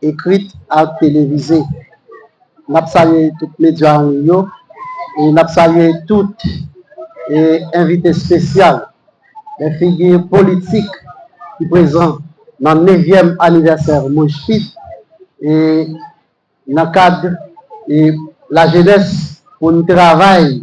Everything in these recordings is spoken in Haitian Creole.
ekrit ak televize. N ap salye tout medya an liy yo e n ap salye tout envite espesyal, lè figi politik ki prezan nan nevyèm anivèsè Mojpip e nan kad lajenès pou n travay.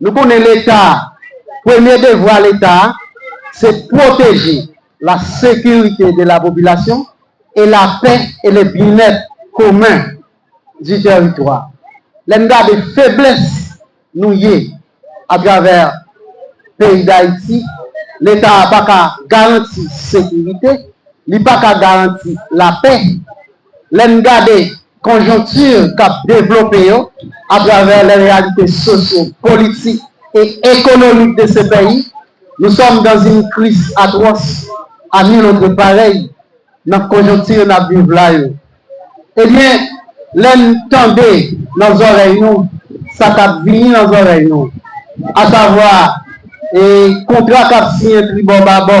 Nou konnen leta, premye devwa leta se pwoteje la sekirite de la popilasyon e la pè e le byenèt komen di tèritwa. Lè n gade feblès nou ye a travè peyi Dayiti, leta a pa ka garanti sekirite, li pa ka garanti la pè, Lè n gade konjonkti k ap devlope yo atravè lè reyalite sosyo, politik e ekonomik de se peyi, nou sòm dan zin kris atwòs a nil otre parèy nan konjonkti n ap viv la yo. E byen, lè n tande nan zòrèy nou sa k ap vini nan zòrèy nou, asavwa e kontra k ap siyen tribò babò,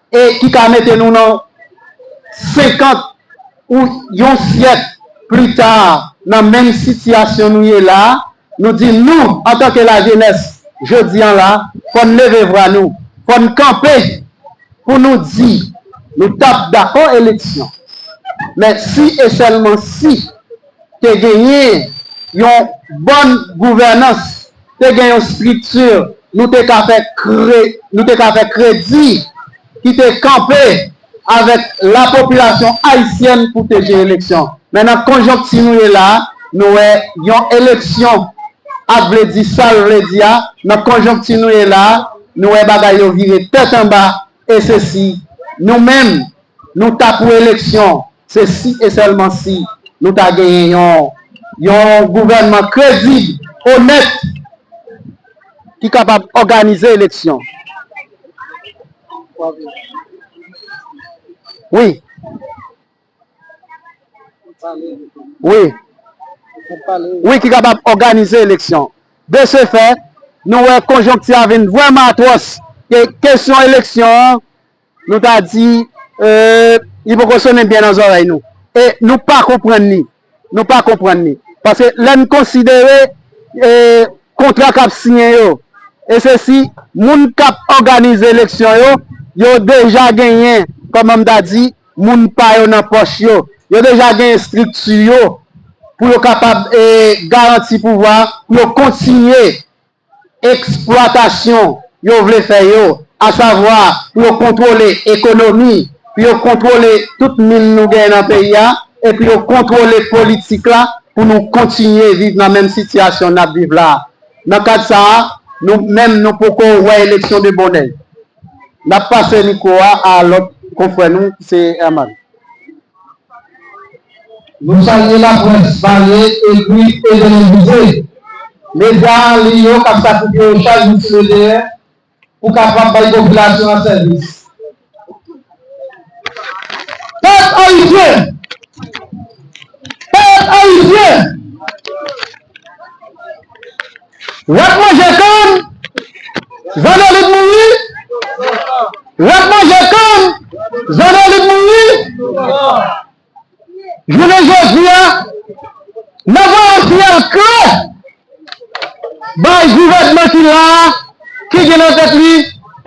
e ki ka mete nou nan 50 ou yon syèk pli ta nan menm sitiyasyon nou ye la a, nou di nou antanke lajenès jodi an la, fò n leve vwa nou, fò n kanpe pou nou di nou t ap dakò eleksyon, men si e sèlman si te genyen yon bòn gouvènans. te gen yon strikti nou te ka fè kre, nou te ka fè kredi ki te kanpe avèk lapopilasyon ayisyèn pou te jere eleksyon. Men nan konjonkti nou ye la a, nou wè yon eleksyon ap vle di sa l vle di a, nan konjonkti nou ye la a, nou wè bagay yo vire tèt anba, e se si nou menm Nou ta pou eleksyon, se si e sèlman si nou ta genyen yon yon gouvènman kredib, onèt, ki kapab òganize eleksyon. Wi. Wi. Wi, ki kapab òganize eleksyon. De se fè, nou wè konjonkti a vin vrèman atwòs. Kesyon eleksyon an. Nou ta di, Eeuh, li poko sonnen byen nan zòrèy nou. E nou pa konprann li. Nou pa konprann li. Paske lè n konsidere kontra k ap siyen yo, e se si moun k ap òganize eleksyon yo, yo deja genyen, kòman m ta di, moun pa yo nan pòch yo. Yo deja gen estrikti yo pou yo kapab garanti pouvwa, pou yo kontinye. eksplwatasyon yo vle fè yo, asavwa pou yo kontwole ekonomi, pou yo kontwole tout min nou genyen nan peyi a e pou yo kontwole politik la pou nou kontinye viv nan menm sitiyasyon n ap viv la a. Nan kad sa a, nou menm nou poko wè eleksyon de bonè. N ap pase mikwo a a lòt konfrè nou ki se Herman. Nou salye laprès, pale, ekri e televize, medya an liy yo k ap sakrifye yo chak jou sou le teren pou kapab bay popilasyon an sèvis. Pèp ayisyen! Pèp ayisyen! Rat manje kann, zandolit mouri Rat manje kann, zandolit mouri Jounen jodi a, n ap voye yon siyal klè bay gouvènman ki la a, ki gen nan tèt li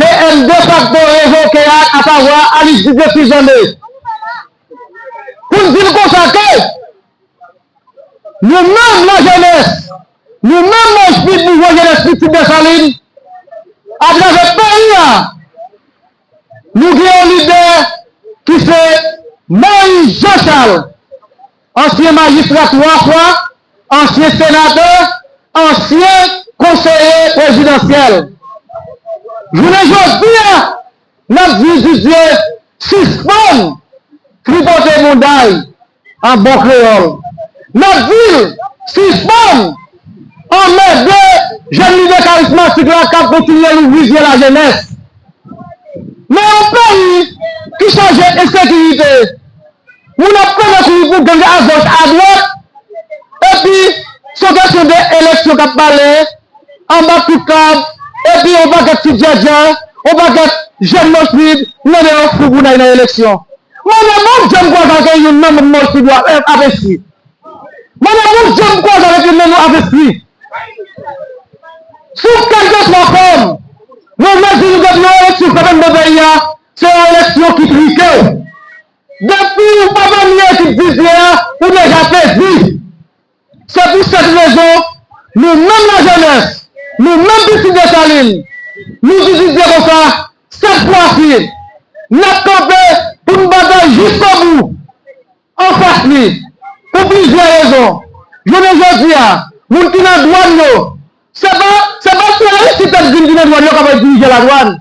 PM defakto revoke a, asavwa Alix Didier Sylvain 2, pou n di l konsa ke. Nou menm lajenès, nou menm manch pit mouvman jenès pitit Desalin, atravè peyi a, nou gen yon lidè ki se Moyiz Jan Chal, ansyen majistra 3 fwa, ansyen senatè, ansyen konseye prezidansyèl. Jounen jodi a. Nap di Didier sispann tripote moudal an bon kreyòl. Nap dil sispann anmède jèn lidè karismatik la kap kontinye louvri zye lajenès. Nan yon peyi ki chaje ensekirite. Moun ap konnen kouri pou gang agoch adwat epi son kesyon de eleksyon kap pale anba kout kab epi yon pakèt ti djèdjè yon pakèt jèn mòchpib mande yon fou pou nay nan eleksyon mande bon dje m kwaze avèk youn nan moun mòchpib yo ap enstwi mande bon dje m kwaze avèk youn nan nou ap enstwi sou kèlkeswa fòm mwen vle di nou depi yon eleksyon fèt anndan peyi a Se yon eleksyon ki trike. Depi ou pa pami ekip Didier a, ou deja pèdi. Se pou sèt rezon, nou menm lajenès, nou menm pitit Desalin, nou di Didier konsa, sèt fwa si, n ap kanpe pou n batay jiskobou anfas li. Pou plizyè rezon. Jounen jodi a, moun ki nan dwàn yo, se pa se pa sèl Aristide t ap di n ki nan dwàn yo k ap dirije ladwàn.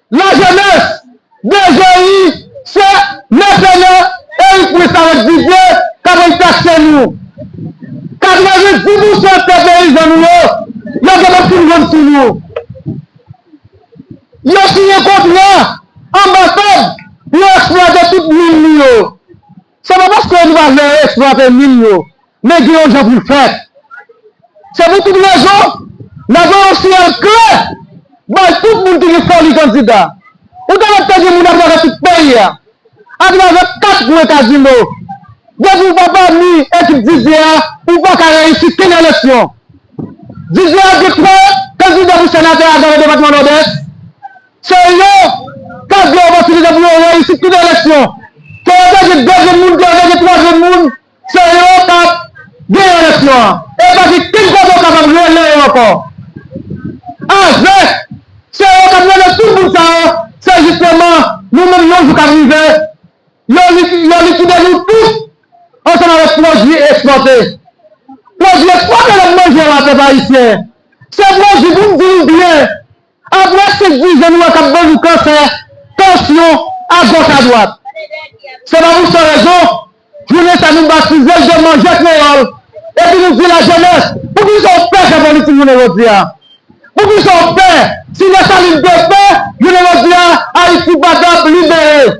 La jeunesse DGI se mèsenè Eric Louis avèk Didier kap ann taxe nou. 90 pousan tè peyizan nou yo, yo gen pou fin vann sou nou. Yo siyen kontra anbasad pou yo eksplwate tout min nou yo. Se pa paske nou pa vle eksplwate min yo, men gen yon jan pou l fèt. Se pou tout rezon, n ap voye yon siyal klè bay tout moun ki gen foli kandida. Ou ta wè te gen moun atravè tout peyi a, atravè kat kwen kazino. Depi ou pa pami ekip Didier a, ou pa ka reyisi kenn eleksyon. Didier ap gen 3 kandida pou senatè atravè depatman Nòdès. Se yon ka gwo opòtinite pou yon reyisit tout eleksyon. Ke yo te gen 2 grenn moun, ke yo te gen 3 grenn moun, se yo k ap genyen eleksyon an. E pa gen kenn kote ou kapab rele yo ankò. Avèk se yo k ap rele tout moun sa yo, se jisteman nou menm yon jou k ap rive, yo likide nou tout ansanm avèk pwodui ekspòte. Pwodui ekspòte lè n manje la pèp ayisyen, se pwodui pou n di nou byen. Apre tout dizon nou an k ap ban nou kansè, tansyon, agòch adwat. Se pa pou san rezon, jounen sa nou batize l de Manje Kreyòl epi nou di lajenès, poukisa w pè fè politik jounen jodi a? Poukisa w pè? Si Desalin te pè, jounen jodi a Ayiti pa t ap libere.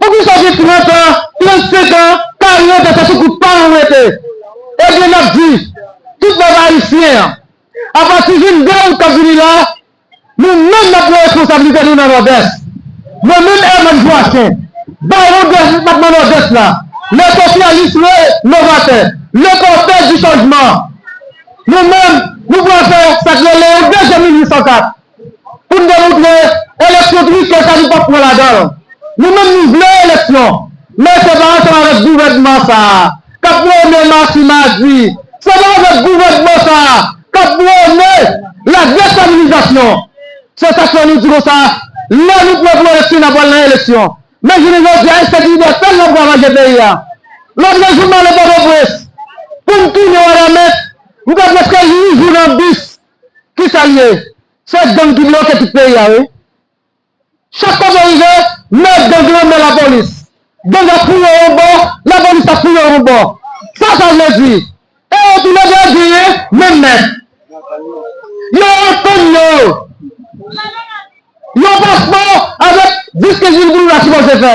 Poukisa gen 30 an, 35 an, 40 an se sou kout pa nou rete? Ebyen nap di tout bèf ayisyen an apati 22 out kap vini la nou menm nap pran responsablite nou nan nòdès. Mwen menm Herman Joassaint, bawon depatman nòdès la, le sosyalis le novatè, le pòtè di chanjman, nou menm nou pral fè sak rele yon dezyèm 1804. Pou n demontre eleksyon trike sa nou pap pran ladan l. Nou menm nou vle eleksyon men se pa ansanm avèk gouvènman sa kap mennen mach madi, se pa avèk gouvènman sa kap prone la destabilizasyon. Se sak fè nou di konsa lè nou pre pou eleksyon na pral nan eleksyon men jounen jodi a ensekirite sèl lap ravaje peyi a. Lòt le jou m ale pòtoprens pou m tounen wanament m fè prèske 8 jou nan bis. Kisa l ye? Se gang ki bloke tout peyi a wi. Chak kote w rive, men gang lan, men lapolis. Gang ap fouye yon bò, lapolis ap fouye yon bò. Sa sa vle di? E yo tou le 2 genyen menm mèt. Yo antann yo. Yon paspò avèk 10, 15 mil goud ou ta sipoze fè.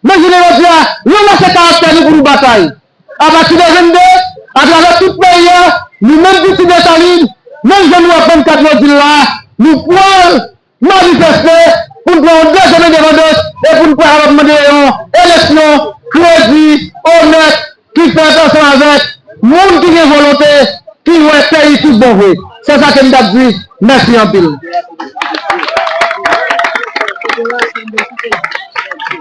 Men jounen jodi a, nou lese karaktè nou pou nou batay. Apati de 22, atravè tout peyi a, nou menm pitit Desalin, menm jan nou ap 24 yo di l la, nou pwal manifeste pou n pran yon dezyèm endepandans e pou n pa kapab mande yon eleksyon kredi, onèt, ki fèt ansanm avèk moun ki gen volonte, ki wè peyi tout bon vre. Se sa ke m t ap di. Mèsi anpil.